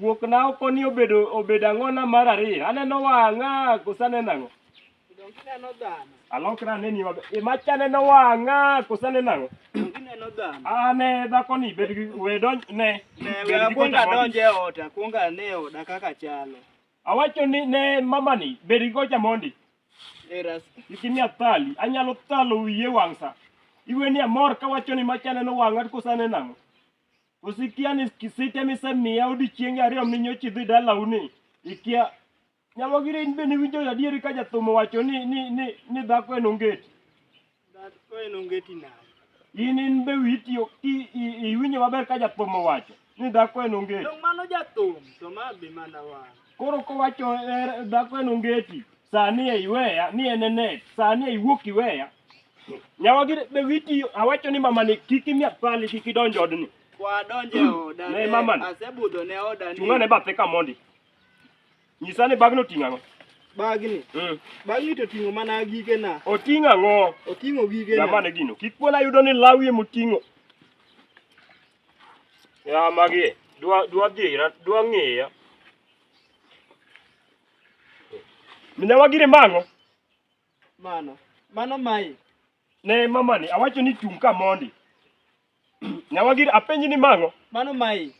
Wuokna oko ni obedo obedo ang'o na mar ariyo. Aneno wang'a koso aneno ang'o? Donge ineno dhano? Alokra aneni maber. E macha aneno wang'a koso aneno ang'o? Donge ineno dhano? Ah ne dhako ni bed gi we donj ne. Ne bed we gi akwonga kocha mondi. donje ot, akwonga ane oda kaka chalo. Awacho ni ne mama ni bed gi kocha mondi. Eras. Nikimi athali, anyalo thalo wiye wang'sa. Iwe ni amor kawacho ni macha aneno wang'a koso aneno ang'o? Koso ikia ni kisite misemiya odiechienge ariyo minyoch idhi dalau ni ikia nyamogire in be niwinjo adieri ka jathum owacho ni, ni, ni, ni dhako en ongeti Dhako en ongeti nade? in in be witiyo i- i- iwinjo maber ka jathum owacho ni dhako en ongeti To mano jathum, to ma be mana wan. Koro kowacho er, dhako en ongeti, sani e iweya, ni en e net, sani e iwuok iweya. Nyawa gi be witi awacho ni mama ni kik imia pali kik idonj odni. Kwadonje oda. Ne, mama ni. Asebudho ne oda ni. Chunga ne bathe ka mondi. Nyisa ni bagno ting'o ang'o? Bagni. Mm. Bagni to ting'o mana gige na. Oting'o ang'o? Oting'o gige na. Jamani gino. Kik pona yudo ni lawi emoting'o. Ya magi dwa dwa dhira dwa ng'iya. Minyawa gire mang'o? Mano. Mano mai. Ne mamani awacho ni chung' ka mondi. Nyawa gire apenji ni mang'o? Mano mai.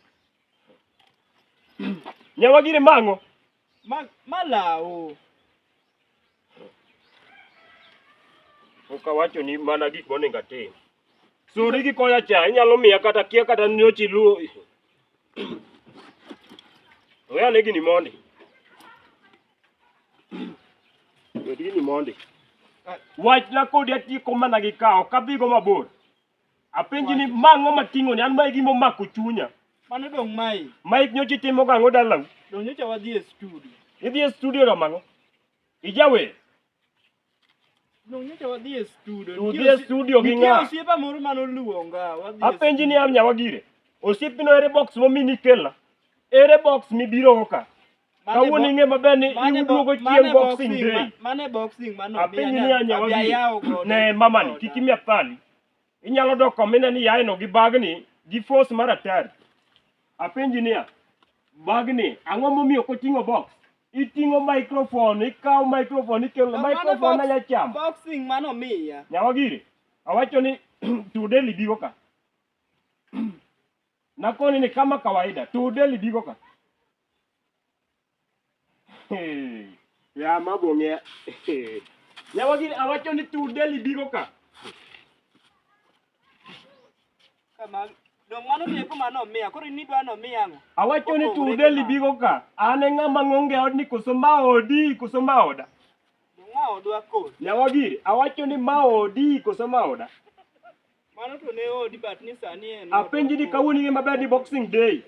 Nyawa gire mang'o? Ma malawo. Pok awacho ni mana gik monego atim. Suri gi koya cha, inyalo miya kata kia kata nyochi luo. Oya ne gini mondi. Bed gini mondi. Wachna kodi atieko mana gi kawo, ok adhigo mabor. Apenji ni ma ang'o ma ting'oni? An ma e gima omako chunya. Mano dong' mai. Mike nyocha itimo gang'o dalau? Dong' nyocha wadhi e studio. Idhi e studio timo ang'o? Ijawer? Dong' nyocha wadhi e studio. Udhi e studio gi ng'a? Nitie osiepa moro mane oluonga. Wadhi e Apenji ni an nyawa gire. Osiepino ere box momini ikela? Ere box mibirogo ka? Mane Kawuono bo- ing'e maber ni mane bo- iduogo mane chieng' boxing boxing day. ma- mane boxing mano Apiny ni anyawa abia yawo godo. ne mamani Goda. kik imia thali. Inyalo dok komine ni yaeno gi bagni gi force mar atari. Apenji niya, bagni ang'o momiyo koting'o box? Iting'o microphone, ikawo microphone, ikelo Mane microphone box- anya chamo. boxing mano miya Nyawagiri, awacho ni tudeli bigo ka. Nakoni ni kama kawaida, tudeli bigo ka. ya mago ng'e yawa gini awacho ni tu deli bigo ka Kama dong mano ni eko mano miya koro in idwa no miya ang'o? awacho ni tu deli bigo ka an e ng'ama ng'onge od ni koso ma odi koso ma oda Dong ma odwa kod. yawa gini awacho ni ma odi koso ma oda Mano to ne odi but ni sani en. Apenji ni kawuono ing'e maber ni boxing day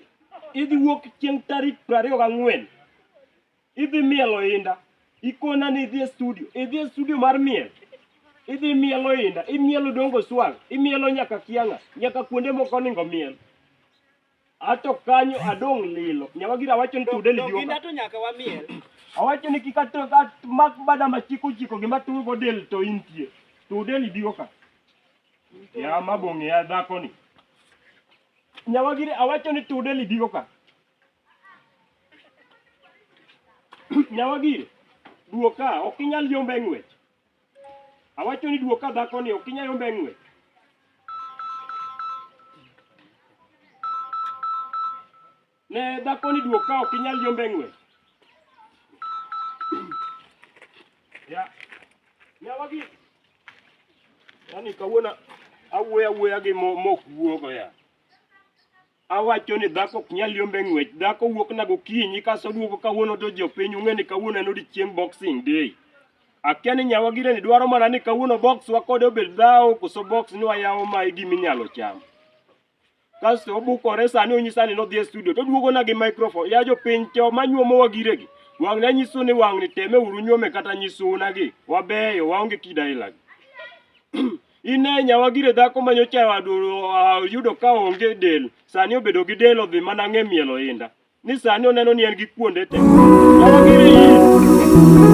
idhi wuok chieng' tarik piero ariyo gang'wen idhi miel oinda ikona ni idhi e studio idhi e studio mar miel idhi miel oinda imielo dongo swang imielo nyaka kianga nyaka kuonde moko oningo miel Ato kanyo adong' lilo. Nyawagira awacho ni tude ni Donginda bioka. to nyaka wamiel. Awacho ni kik ato at mak bada ma chik ochiko gima tuwe go del to intie. Tude ni bioka. Ya ma bong'e ya dhako ni. Nyawagira awacho ni tude ni bioka. Nyawagira duoka ok inyal yombe ng'wech. Awacho ni duok ka dhako ni ok inyal yombe ng'we. Ne dhako ni duok ka ok inyal yombe ng'we. Ya. Ya wagi. Yaani kawuono awuoya awuoya gi mo mok wuogo ya. Awacho ni dhako ok nyal yombe ng'wech. Dhako wuok na gokinyi kaso duogo kawuono to jopiny ung'e ni kawuono en odiechieng boxing day. Akia ni nyawa gire ni dwaro mana ni kawuono box wakode obed dhawo koso box ni wayawo ma e gima inyalo cham. Kasto obukore sani onyisa ni nodhi e studio to duogo na gi microphone. Ya jopiny cho manyuomo wa gire gi. Wang' na nyisu ni wang' ni teme uru nyuome kata nyisu una gi. Wabeyo waonge kida ilagi. Ine nyawa gire dhako ma nyocha oyudo ka onge del, sani obedo gi del odhi mana ng'e miel oinda. Ni sani oneno ni en gi kuonde te. Nyawa gire in.